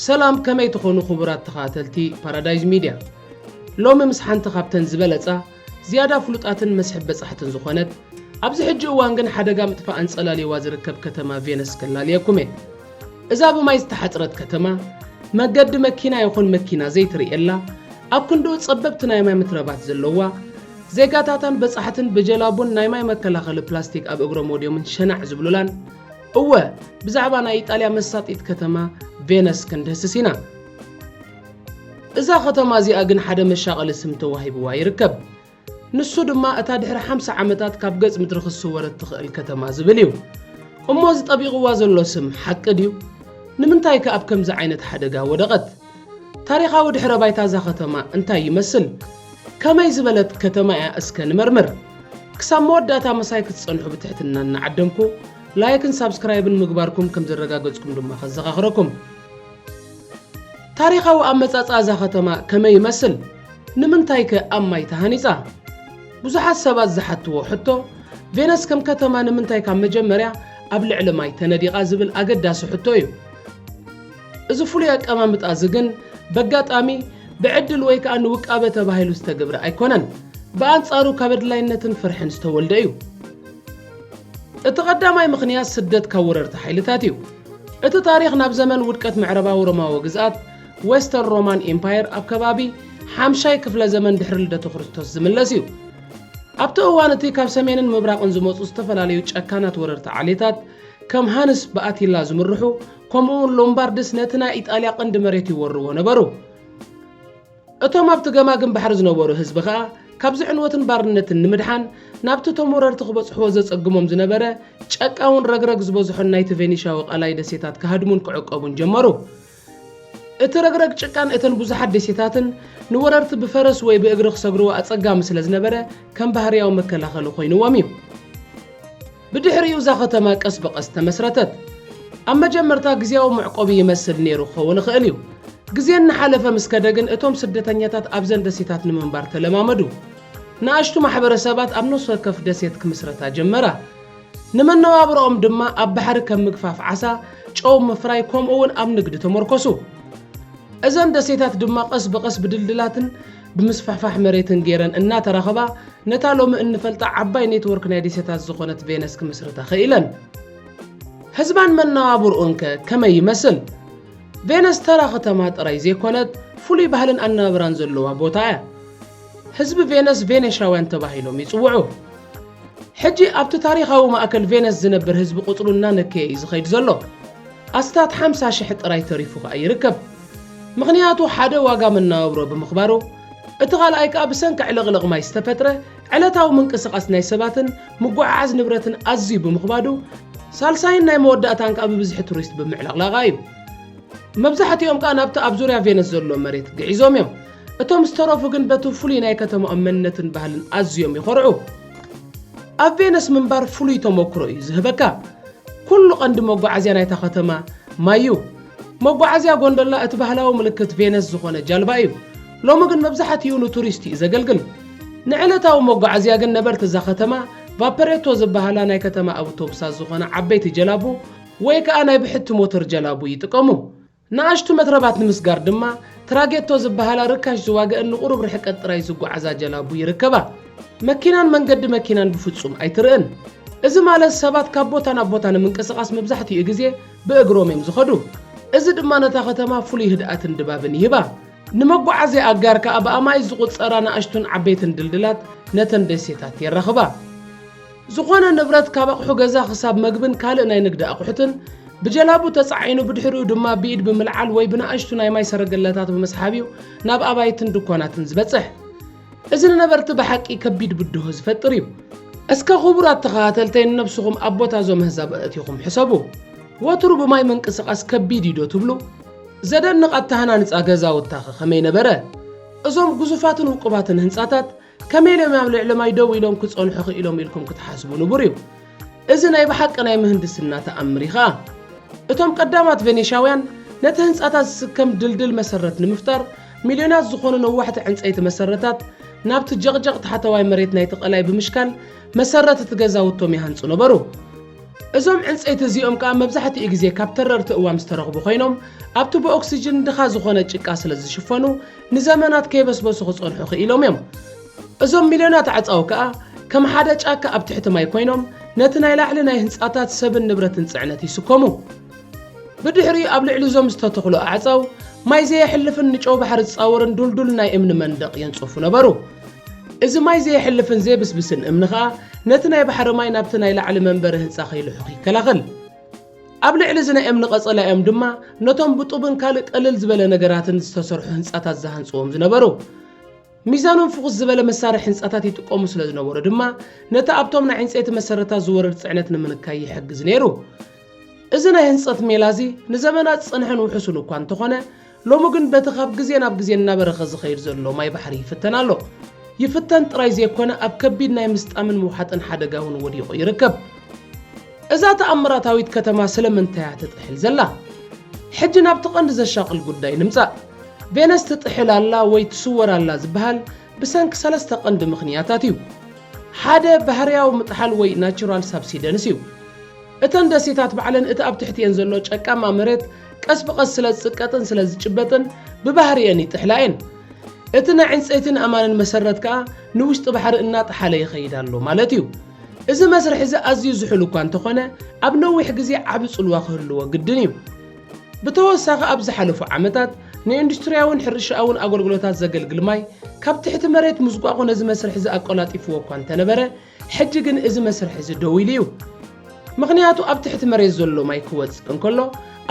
ሰላም ከመይ ትኾኑ ክቡራት ተኸታተልቲ ፓራዳይዝ ሚድያ ሎሚ ምስ ሓንቲ ካብተን ዝበለፃ ዝያዳ ፍሉጣትን መስሕብ በፃሕትን ዝኾነት ኣብዚ ሕጂ እዋን ግን ሓደጋ ምጥፋእ ኣንፀላልይዋ ዝርከብ ከተማ ቬነስ ከላልየኩም እየ እዛ ብማይ ዝተሓጽረት ከተማ፣ መገዲ መኪና ይኹን መኪና ዘይትርእየላ፣ ኣብ ክንድኡ ጸበብቲ ናይ ማይ መትረባት ዘለዋ፣ ዜጋታታን በጻሕትን ብጀላቡን ናይ ማይ መከላኸሊ ፕላስቲክ ኣብ እግሮም ወድዮምን ሸናዕ ዝብሉላን፣ እወ ብዛዕባ ናይ ኢጣልያ መሳጢት ከተማ ቬነስ ክንድህስስ ኢና። እዛ ከተማ እዚኣ ግን ሓደ መሻቐሊ ስም ተዋሂብዋ ይርከብ። ንሱ ድማ እታ ድሕሪ ሓምሳ ዓመታት ካብ ገጽ ምድሪ ክትስወር እትኽእል ከተማ ዝብል እዩ። እሞ እዚ ጠቢቑዋ ዘሎ ስም ሓቂ ድዩ? ንምንታይከ ኣብ ከምዚ ዓይነት ሓደጋ ወደቐት? ታሪኻዊ ድሕረ ባይታ እዛ ከተማ እንታይ ይመስል? ከመይ ዝበለት ከተማ እያ እስከ ንመርምር። ክሳብ መወዳእታ ምሳይ ክትጸንሑ ብትሕትና እናዓደምኩ፣ ላይክን ሳብስክራይብን ምግባርኩም ከም ዘረጋገጽኩም ድማ ከዘኻኽረኩም። ታሪኻዊ ኣመጻጽኣ እዛ ከተማ ከመይ ይመስል? ንምንታይከ ኣብ ማይ ተሃኒጻ? ብዙሓት ሰባት ዝሓትዎ ሕቶ፣ ቬነስ ከም ከተማ ንምንታይ ካብ መጀመርያ ኣብ ልዕሊ ማይ ተነዲቓ ዝብል ኣገዳሲ ሕቶ እዩ። እዚ ፍሉይ ኣቀማምጣ እዚ ግን በጋጣሚ፣ ብዕድል ወይ ከኣ ንውቃበ ተባሂሉ ዝተግብረ ኣይኮነን። ብኣንጻሩ ካብ ኣድላይነትን ፍርሕን ዝተወልደ እዩ። እቲ ቀዳማይ ምኽንያት ስደት ካብ ወረርቲ ሓይልታት እዩ። እቲ ታሪኽ ናብ ዘመን ውድቀት ምዕራባዊ ሮማዊ ግዝኣት፣ Western Roman Empire፣ ኣብ ከባቢ ሓምሻይ ክፍለ ዘመን ድሕሪ ልደተ ክርስቶስ ዝምለስ እዩ። ኣብቲ እዋን እቲ ካብ ሰሜንን ምብራቕን ዝመጹ ዝተፈላለዩ ጨካናት ወረርቲ ዓሌታት፣ ከም ሃንስ ብኣቲላ ዝምርሑ፣ ከምኡ'ውን ሎምባርድስ ነቲ ናይ ኢጣልያ ቀንዲ መሬት ይወርዎ ነበሩ። እቶም ኣብቲ ገማግም ባሕሪ ዝነበሩ ህዝቢ ከኣ ካብዚ ዕንወትን ባርነትን ንምድሓን ናብቲ እቶም ወረርቲ ክበጽሕዎ ዘጸግሞም ዝነበረ ጨቃውን ረግረግ ዝበዝሖን ናይቲ ቬኒሻዊ ቀላይ ደሴታት ክሃድሙን ክዕቀቡን ጀመሩ። እቲ ረግረግ ጭቃን እተን ብዙሓት ደሴታትን ንወረርቲ ብፈረስ ወይ ብእግሪ ክሰግርዎ ኣጸጋሚ ስለ ዝነበረ ከም ባህርያዊ መከላኸሊ ኮይንዎም እዩ። ብድሕሪኡ እዛ ከተማ ቀስ ብቐስ ተመስረተት። ኣብ መጀመርታ ግዝያዊ መዕቆቢ ይመስል ነይሩ ክኸውን ይኽእል እዩ። ግዜ እናሓለፈ ምስ ከደ ግን እቶም ስደተኛታት ኣብዘን ደሴታት ንምንባር ተለማመዱ። ንኣሽቱ ማሕበረሰባት ኣብ ነፍሲ ወከፍ ደሴት ክምስረታ ጀመራ። ንመነባብሮኦም ድማ ኣብ ባሕሪ ከም ምግፋፍ ዓሳ፣ ጨው ምፍራይ ከምኡ'ውን ኣብ ንግዲ ተመርኮሱ። እዘን ደሴታት ድማ ቀስ ብቐስ ብድልድላትን ብምስፍሕፋሕ መሬትን ገይረን እናተራኸባ ነታ ሎሚ እንፈልጣ ዓባይ ኔትወርክ ናይ ዴሴታት ዝኾነት ቬነስ ክምስርታ ኸኢለን። ሕዝባን መነባብርኡን ከ ከመይ ይመስል? ቬነስ ተራ ኸተማ ጥራይ ዘይኮነት ፍሉይ ባህልን ኣነባብራን ዘለዋ ቦታ እያ። ሕዝቢ ቬነስ ቬኔሻውያን ተባሂሎም ይጽውዑ። ሕጂ ኣብቲ ታሪኻዊ ማእከል ቬነስ ዝነብር ህዝቢ ቁጽሩ እናነከየ እዩ ዝኸይድ ዘሎ። ኣስታት ሓምሳ ሽሕ ጥራይ ተሪፉ ከኣ ይርከብ። ምኽንያቱ ሓደ ዋጋ መነባብሮ ብምኽባሩ፣ እቲ ካልኣይ ከኣ ብሰንኪ ዕልቕልቕ ማይ ዝተፈጥረ ዕለታዊ ምንቅስቓስ ናይ ሰባትን ምጉዕዓዝ ንብረትን ኣዝዩ ብምኽባዱ፣ ሳልሳይን ናይ መወዳእታን ከኣ ብብዝሒ ቱሪስት ብምዕልቕላቓ እዩ። መብዛሕቲኦም ከኣ ናብቲ ኣብ ዙርያ ቬነስ ዘሎ መሬት ግዒዞም እዮም። እቶም ዝተረፉ ግን በቲ ፍሉይ ናይ ከተማኦም መንነትን ባህልን ኣዝዮም ይዀርዑ። ኣብ ቬነስ ምንባር ፍሉይ ተመክሮ እዩ ዝህበካ። ኵሉ ቀንዲ መጓዓዝያ ናይታ ከተማ ማይ እዩ። መጓዓዝያ ጎንደላ እቲ ባህላዊ ምልክት ቬነስ ዝዀነ ጃልባ እዩ። ሎሚ ግን መብዛሕትኡ ንቱሪስት እዩ ዘገልግል። ንዕለታዊ መጓዓዝያ ግን ነበርቲ እዛ ከተማ ቫፐሬቶ ዝበሃላ ናይ ከተማ ኣብቶቡሳት ዝዀና ዓበይቲ ጀላቡ ወይ ከኣ ናይ ብሕቲ ሞተር ጀላቡ ይጥቀሙ። ንኣሽቱ መትረባት ንምስጋር ድማ ትራጌቶ ዝበሃላ ርካሽ ዝዋገእን ንቑሩብ ርሕቀት ጥራይ ዝጓዓዛ ጀላቡ ይርከባ። መኪናን መንገዲ መኪናን ብፍጹም ኣይትርእን። እዚ ማለት ሰባት ካብ ቦታ ናብ ቦታ ንምንቅስቓስ መብዛሕትኡ ግዜ ብእግሮም እዮም ዝኸዱ። እዚ ድማ ነታ ከተማ ፍሉይ ህድኣትን ድባብን ይህባ። ንመጓዓዝያ ኣጋር ከኣ ብኣማኢት ዝቑጸራ ንኣሽቱን ዓበይትን ድልድላት ነተን ደሴታት የራኽባ። ዝኾነ ንብረት ካብ ኣቕሑ ገዛ ክሳብ መግብን ካልእ ናይ ንግዲ ኣቑሑትን ብጀላቡ ተጻዒኑ ብድሕሪኡ ድማ ብኢድ ብምልዓል ወይ ብንኣሽቱ ናይ ማይ ሰረገላታት ብምስሓብ እዩ ናብ ኣባይትን ድኳናትን ዝበጽሕ። እዚ ንነበርቲ ብሓቂ ከቢድ ብድሆ ዝፈጥር እዩ። እስከ ክቡራት ተኸታተልተይ ንነብስኹም ኣብ ቦታ እዞም ኣህዛብ ኣእቲኹም ሕሰቡ። ወትሩ ብማይ ምንቅስቓስ ከቢድ እዩ ዶ ትብሉ? ዘደንቕ ኣተሃናንጻ ገዛውታኸ ከመይ ነበረ? እዞም ግዙፋትን ውቁባትን ህንጻታት ከመይ ኢሎም ኣብ ልዕሊ ማይ ደው ኢሎም ክጸንሑ ክኢሎም ኢልኩም ክትሓስቡ ንቡር እዩ። እዚ ናይ ብሓቂ ናይ ምህንድስና ተኣምር እዩ ኸኣ። እቶም ቀዳማት ቬኔሻውያን ነቲ ህንጻታት ዝስከም ድልድል መሰረት ንምፍጣር ሚልዮናት ዝኾኑ ነዋሕቲ ዕንጸይቲ መሰረታት ናብቲ ጀቕጀቕ ታሕተዋይ መሬት ናይቲ ቀላይ ብምሽካል መሰረት እቲ ገዛውቶም ይሃንጹ ነበሩ። እዞም ዕንጸይቲ እዚኦም ከኣ መብዛሕትኡ ግዜ ካብ ተረርቲ እዋም ዝተረኽቡ ኮይኖም ኣብቲ ብኦክስጅን ድኻ ዝኾነ ጭቃ ስለ ዝሽፈኑ ንዘመናት ከይበስበሱ ክጸንሑ ክኢሎም እዮም። እዞም ሚልዮናት ኣዕጻው ከኣ ከም ሓደ ጫካ ኣብ ትሕቲ ማይ ኰይኖም ነቲ ናይ ላዕሊ ናይ ህንጻታት ሰብን ንብረትን ጽዕነት ይስከሙ። ብድሕሪኡ ኣብ ልዕሊ እዞም ዝተተኽሉ ኣዕጻው ማይ ዘየሕልፍን ንጨው ባሕሪ ዝጻወርን ዱልዱል ናይ እምኒ መንደቕ የንጽፉ ነበሩ። እዚ ማይ ዘየሕልፍን ዘይብስብስን እምኒ ከኣ ነቲ ናይ ባሕሪ ማይ ናብቲ ናይ ላዕሊ መንበሪ ህንጻ ከይልሑኽ ይከላኸል። ኣብ ልዕሊ እዚ ናይ እምኒ ቀጸላ እዮም ድማ ነቶም ብጡብን ካልእ ቀልል ዝበለ ነገራትን ዝተሰርሑ ህንጻታት ዝሃንጽዎም ዝነበሩ። ሚዛኖም ፍኹስ ዝበለ መሳርሒ ህንጻታት ይጥቀሙ ስለ ዝነበሩ ድማ ነቲ ኣብቶም ናይ ዕንጸይቲ መሰረታት ዝወርድ ጽዕነት ንምንካይ ይሕግዝ ነይሩ። እዚ ናይ ህንጸት ሜላ እዚ ንዘመናት ዝጸንሐን ውሑሱን እኳ እንተኾነ፣ ሎሚ ግን በቲ ካብ ግዜ ናብ ግዜ እናበረኸ ዝኸይድ ዘሎ ማይ ባሕሪ ይፍተን ኣሎ። ይፍተን ጥራይ ዘይኮነ ኣብ ከቢድ ናይ ምስጣምን ምውሓጥን ሓደጋ እውን ወዲቑ ይርከብ። እዛ ተኣምራታዊት ከተማ ስለምንታይ እያ ትጥሕል ዘላ? ሕጂ ናብቲ ቀንዲ ዘሻቕል ጉዳይ ንምጻእ። ቬነስ ትጥሕል ኣላ ወይ ትስወር ኣላ ዝበሃል ብሰንኪ ሰለስተ ቀንዲ ምኽንያታት እዩ። ሓደ ባህርያዊ ምጥሓል ወይ ናቹራል ሳብሲደንስ እዩ። እተን ደሴታት ባዕለን እቲ ኣብ ትሕቲኤን ዘሎ ጨቃማ መሬት ቀስ ብቐስ ስለ ዝጽቀጥን ስለ ዝጭበጥን ብባህሪኤን ይጥሕላ እየን። እቲ ናይ ዕንጸይትን ኣእማንን መሰረት ከኣ ንውሽጢ ባሕሪ እናጠሓለ ይኸይድ ኣሎ ማለት እዩ። እዚ መስርሕ እዚ ኣዝዩ ዝሑል እኳ እንተኾነ ኣብ ነዊሕ ግዜ ዓቢ ጽልዋ ክህልዎ ግድን እዩ። ብተወሳኺ ኣብ ዝሓለፉ ዓመታት ንኢንዱስትርያውን ሕርሻኣውን ኣገልግሎታት ዘገልግል ማይ ካብ ትሕቲ መሬት ምዝቋቑ ነዚ መስርሕ እዚ ኣቆላጢፍዎ እኳ እንተነበረ፣ ሕጂ ግን እዚ መስርሕ እዚ ደው ኢሉ እዩ፣ ምኽንያቱ ኣብ ትሕቲ መሬት ዘሎ ማይ ክወጽእ እንከሎ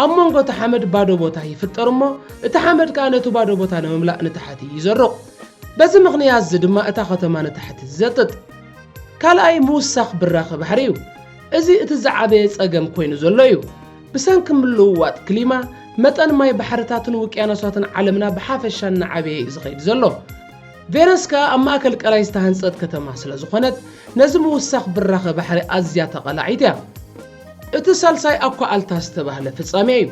ኣብ መንጎ እቲ ሓመድ ባዶ ቦታ ይፍጠር እሞ እቲ ሓመድ ከኣ ነቲ ባዶ ቦታ ንምምላእ ንታሕቲ ይዘሩቕ። በዚ ምኽንያት እዚ ድማ እታ ከተማ ንታሕቲ ትዘጥጥ። ካልኣይ ምውሳኽ ብራኸ ባሕሪ እዩ። እዚ እቲ ዝዓበየ ጸገም ኮይኑ ዘሎ እዩ። ብሰንኪ ምልውዋጥ ክሊማ መጠን ማይ ባሕርታትን ውቅያኖሳትን ዓለምና ብሓፈሻ እናዓበየ እዩ ዝኸይድ ዘሎ። ቬነስካ ኣብ ማእከል ቀላይ ዝተሃንጸት ከተማ ስለ ዝኾነት፣ ነዚ ምውሳኽ ብራኸ ባሕሪ ኣዝያ ተቓላዒት እያ። እቲ ሳልሳይ ኣኳኣልታ ዝተባህለ ፍጻሜ እዩ።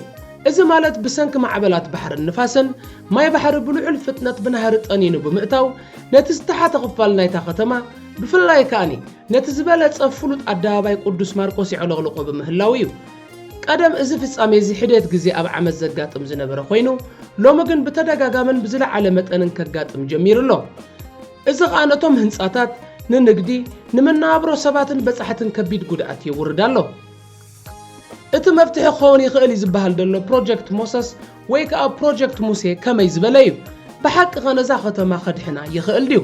እዚ ማለት ብሰንኪ ማዕበላት ባሕርን ንፋስን፣ ማይ ባሕሪ ብልዑል ፍጥነት ብናህሪ ጠኒኑ ብምእታው፣ ነቲ ዝተሓተ ክፋል ናይታ ከተማ፣ ብፍላይ ከኣ ነቲ ዝበለጸ ፍሉጥ ኣደባባይ ቅዱስ ማርቆስ የዕለቕልቖ ብምህላዉ እዩ። ቀደም እዚ ፍጻሜ እዚ ሒደት ግዜ ኣብ ዓመት ዘጋጥም ዝነበረ ኮይኑ፣ ሎሚ ግን ብተደጋጋምን ብዝለዓለ መጠንን ከጋጥም ጀሚሩ ኣሎ። እዚ ከኣ ነቶም ህንጻታት፣ ንንግዲ፣ ንመነባብሮ ሰባትን በጻሕትን ከቢድ ጉድኣት የውርድ ኣሎ። እቲ መፍትሒ ክኸውን ይኽእል እዩ ዝበሃል ዘሎ ፕሮጀክት ሞሰስ፣ ወይ ከኣ ፕሮጀክት ሙሴ ከመይ ዝበለ እዩ? ብሓቂኸ ነዛ ከተማ ከድሕና ይኽእል ድዩ?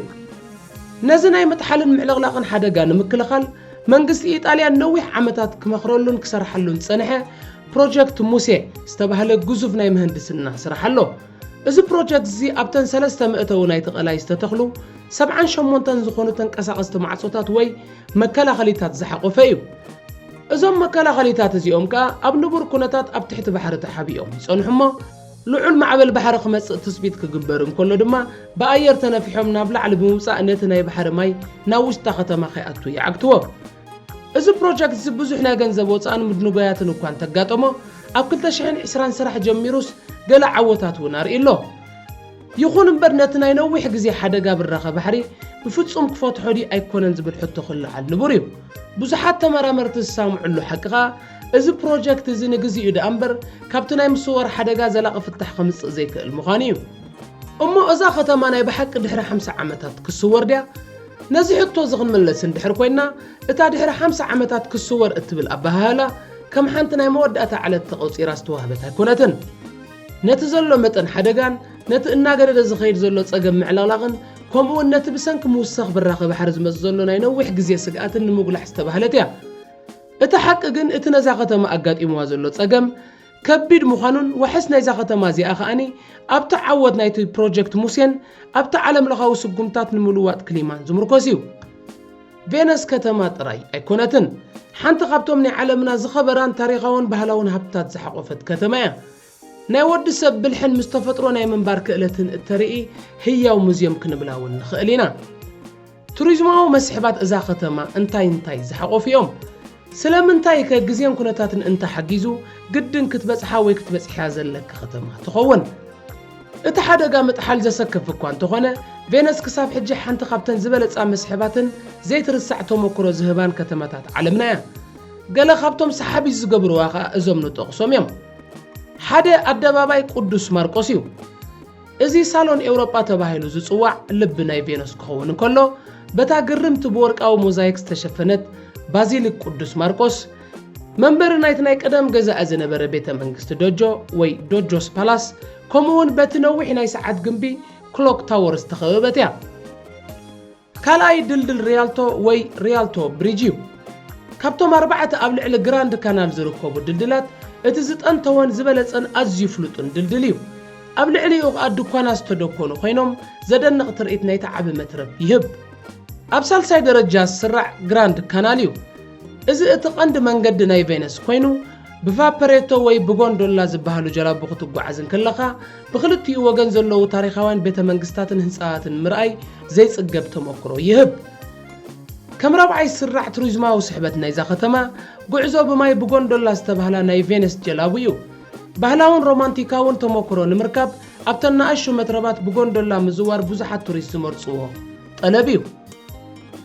ነዚ ናይ ምጥሓልን ምዕልቕላቕን ሓደጋ ንምክልኻል መንግስቲ ኢጣልያ ነዊሕ ዓመታት ክመኽረሉን ክሰርሓሉን ዝጸንሐ ፕሮጀክት ሙሴ ዝተባህለ ግዙፍ ናይ ምህንድስና ስራሕ ኣሎ። እዚ ፕሮጀክትዚ ኣብተን ሰለስተ መእተዊ ናይቲ ቀላይ ዝተተኽሉ ሰብዓን ሸሞንተን ዝኾኑ ተንቀሳቐስቲ ማዕጾታት ወይ መከላኸሊታት ዝሓቖፈ እዩ። እዞም መከላኸሊታት እዚኦም ከኣ ኣብ ንቡር ኩነታት ኣብ ትሕቲ ባሕሪ ተሓቢኦም ይጸንሑ እሞ ልዑል ማዕበል ባሕሪ ክመጽእ ትጽቢት ክግበር እንከሎ ድማ ብኣየር ተነፊሖም ናብ ላዕሊ ብምውጻእ ነቲ ናይ ባሕሪ ማይ ናብ ውሽጣ ከተማ ከይኣቱ ይዓግትዎ። እዚ ፕሮጀክትዚ ብዙሕ ናይ ገንዘብ ወጻእን ምድንጓያትን እኳ እንተጋጠሞ ኣብ ክልተ ሽሕን ዕስራን ስራሕ ጀሚሩስ ገለ ዓወታት እውን ኣርእዩ ኣሎ። ይኹን እምበር ነቲ ናይ ነዊሕ ግዜ ሓደጋ ብራኸ ባሕሪ ብፍጹም ክፈትሖ ድዩ ኣይኮነን ዝብል ሕቶ ክለዓል ንቡር እዩ። ብዙሓት ተመራመርቲ ዝሳምዕሉ ሓቂ ከኣ እዚ ፕሮጀክት እዚ ንግዜኡ ደኣ እምበር ካብቲ ናይ ምስዋር ሓደጋ ዘላቒ ፍታሕ ከምጽእ ዘይክእል ምዃኑ እዩ። እሞ እዛ ከተማ ናይ ብሓቂ ድሕሪ ሓምሳ ዓመታት ክስወር ድያ? ነዚ ሕቶ እዚ ክንምለስ እንድሕር ኮይና እታ ድሕሪ ሓምሳ ዓመታት ክስወር እትብል ኣበሃህላ ከም ሓንቲ ናይ መወዳእታ ዕለት ተቖጺራ ዝተዋህበት ኣይኮነትን። ነቲ ዘሎ መጠን ሓደጋን ነቲ እናገደደ ዝኸይድ ዘሎ ጸገም ምዕልቕላቕን ከምኡውን ነቲ ብሰንኪ ምውሳኽ ብራኸ ባሕሪ ዝመጽእ ዘሎ ናይ ነዊሕ ግዜ ስግኣትን ንምጉላሕ ዝተባህለት እያ። እቲ ሓቂ ግን እቲ ነዛ ከተማ ኣጋጢምዋ ዘሎ ጸገም ከቢድ ምዃኑን ዋሕስ ናይዛ ከተማ እዚኣ ከኣ ኣብቲ ዓወት ናይቲ ፕሮጀክት ሙሴን ኣብቲ ዓለምለኻዊ ስጉምታት ንምልዋጥ ክሊማን ዝምርኮስ እዩ። ቬነስ ከተማ ጥራይ ኣይኮነትን፣ ሓንቲ ካብቶም ናይ ዓለምና ዝኸበራን ታሪኻውን ባህላውን ሃብትታት ዝሓቖፈት ከተማ እያ። ናይ ወዲ ሰብ ብልሕን ምስ ተፈጥሮ ናይ ምንባር ክእለትን እተርኢ ህያው ሙዝየም ክንብላ እውን ንኽእል ኢና። ቱሪዝማዊ መስሕባት እዛ ከተማ እንታይ እንታይ ዝሓቖፉ እዮም? ስለምንታይ ከ ግዜን ኩነታትን እንተ ሓጊዙ ግድን ክትበጽሓ ወይ ክትበጽሕያ ዘለኪ ከተማ ትኸውን። እቲ ሓደጋ ምጥሓል ዘሰክፍ እኳ እንተኾነ፣ ቬነስ ክሳብ ሕጂ ሓንቲ ካብተን ዝበለጻ መስሕባትን ዘይትርሳዕ ተሞክሮ ዝህባን ከተማታት ዓለምና እያ። ገለ ካብቶም ሰሓቢት ዝገብርዋ ከኣ እዞም ንጠቕሶም እዮም። ሓደ ኣደባባይ ቅዱስ ማርቆስ እዩ። እዚ ሳሎን ኤውሮጳ ተባሂሉ ዝጽዋዕ ልቢ ናይ ቬኑስ ክኸውን እንከሎ፣ በታ ግርምቲ ብወርቃዊ ሞዛይክ ዝተሸፈነት ባዚሊክ ቅዱስ ማርቆስ፣ መንበሪ ናይቲ ናይ ቀደም ገዛኢ ዝነበረ ቤተ መንግስቲ ዶጆ ወይ ዶጆስ ፓላስ፣ ከምኡ'ውን በቲ ነዊሕ ናይ ሰዓት ግምቢ ክሎክ ታወር ዝተኸበበት እያ። ካልኣይ ድልድል ሪያልቶ ወይ ሪያልቶ ብሪጅ እዩ። ካብቶም ኣርባዕተ ኣብ ልዕሊ ግራንድ ካናል ዝርከቡ ድልድላት እቲ ዝጠንተወን ዝበለጸን ኣዝዩ ፍሉጥን ድልድል እዩ። ኣብ ልዕሊኡ ከኣ ድኳናት ዝተደኮኑ ኮይኖም ዘደንቕ ትርኢት ናይቲ ዓቢ መትረብ ይህብ። ኣብ ሳልሳይ ደረጃ ዝስራዕ ግራንድ ካናል እዩ። እዚ እቲ ቀንዲ መንገዲ ናይ ቬነስ ኮይኑ ብቫፐሬቶ ወይ ብጎንዶላ ዝበሃሉ ጀላቡ ክትጓዓዝ እንክለኻ ብኽልቲኡ ወገን ዘለዉ ታሪኻውያን ቤተ መንግስታትን ህንጻታትን ምርኣይ ዘይጽገብ ተመክሮ ይህብ። ከም ራብዓይ ስራዕ ቱሪዝማዊ ስሕበት ናይዛ ከተማ፣ ጉዕዞ ብማይ ብጎንዶላ ዝተባህላ ናይ ቬነስ ጀላቡ እዩ። ባህላውን ሮማንቲካውን ተመክሮ ንምርካብ ኣብተን ንኣሽቱ መትረባት ብጎንዶላ ምዝዋር ብዙሓት ቱሪስት ዝመርጽዎ። ጠለብ እዩ።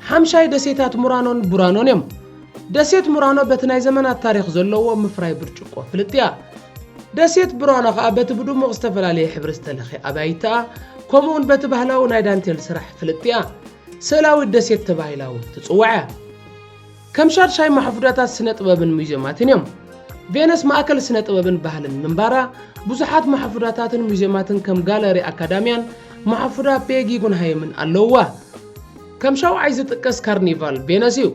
ሓምሻይ ደሴታት ሙራኖን ቡራኖን እዮም። ደሴት ሙራኖ በቲ ናይ ዘመናት ታሪኽ ዘለዎ ምፍራይ ብርጭቆ ፍልጥቲ እያ። ደሴት ቡራኖ ከኣ በቲ ብድሙቕ ዝተፈላለየ ሕብሪ ዝተለኽየ ኣባይታኣ ከምኡውን በቲ ባህላዊ ናይ ዳንቴል ስራሕ ፍልጥቲ እያ። ስእላዊት ደሴት ተባሂላ እውን ትጽዋዕ እያ። ከም ሻድሻይ ማሕፉዳታት ስነ-ጥበብን ሙዜማትን እዮም። ቬነስ ማእከል ስነ-ጥበብን ባህልን ምንባራ፣ ብዙሓት ማሕፉዳታትን ሙዜማትን ከም ጋለሪ ኣካዳምያን ማሕፉዳ ፔ ጊጉንሃይምን ኣለዉዋ። ከም ሻውዓይ ዝጥቀስ ካርኒቫል ቬነስ እዩ።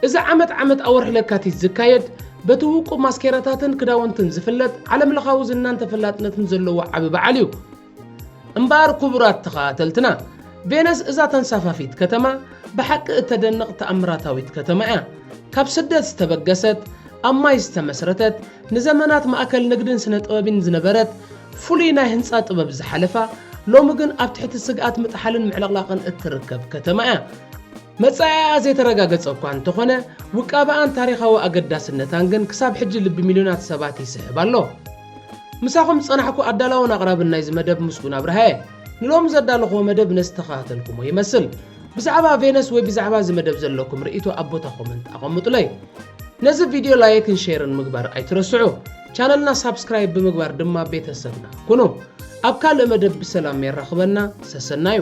እዚ ዓመት ዓመት ኣብ ወርሒ ለካቲት ዝካየድ፣ በቲ ውቁብ ማስኬራታትን ክዳውንትን ዝፍለጥ፣ ዓለምለኻዊ ዝናን ተፈላጥነትን ዘለዎ ዓቢ በዓል እዩ። እምበኣር ክቡራት ተኸታተልትና ቬነስ እዛ ተንሳፋፊት ከተማ ብሓቂ እተደንቕ ተኣምራታዊት ከተማ እያ። ካብ ስደት ዝተበገሰት፣ ኣብ ማይ ዝተመስረተት፣ ንዘመናት ማእከል ንግድን ስነ-ጥበብን ዝነበረት፣ ፍሉይ ናይ ህንጻ ጥበብ ዝሓለፋ፣ ሎሚ ግን ኣብ ትሕቲ ስግኣት ምጥሓልን ምዕልቕላቕን እትርከብ ከተማ እያ። መጻኢኣ ዘይተረጋገጸ እኳ እንተኾነ፣ ውቃበኣን ታሪኻዊ ኣገዳስነታን ግን ክሳብ ሕጂ ልቢ ሚልዮናት ሰባት ይስሕብ ኣሎ። ምሳኹም ዝጸናሕኩ ኣዳላውን ኣቕራብን ናይዚ መደብ ምስጉን ኣብርሃ እየ። ንሎሚ ዘዳለኹዎ መደብ ነዚ ዝተኸታተልኩሞ ይመስል። ብዛዕባ ቬነስ ወይ ብዛዕባ እዚ መደብ ዘለኩም ርእይቶ ኣብ ቦታ ኮመንት ኣቐምጡለይ። ነዚ ቪድዮ ላይክን ሼርን ምግባር ኣይትረስዑ። ቻነልና ሳብስክራይብ ብምግባር ድማ ቤተሰብና ኩኑ። ኣብ ካልእ መደብ ብሰላም የራኽበና። ሰሰናዩ!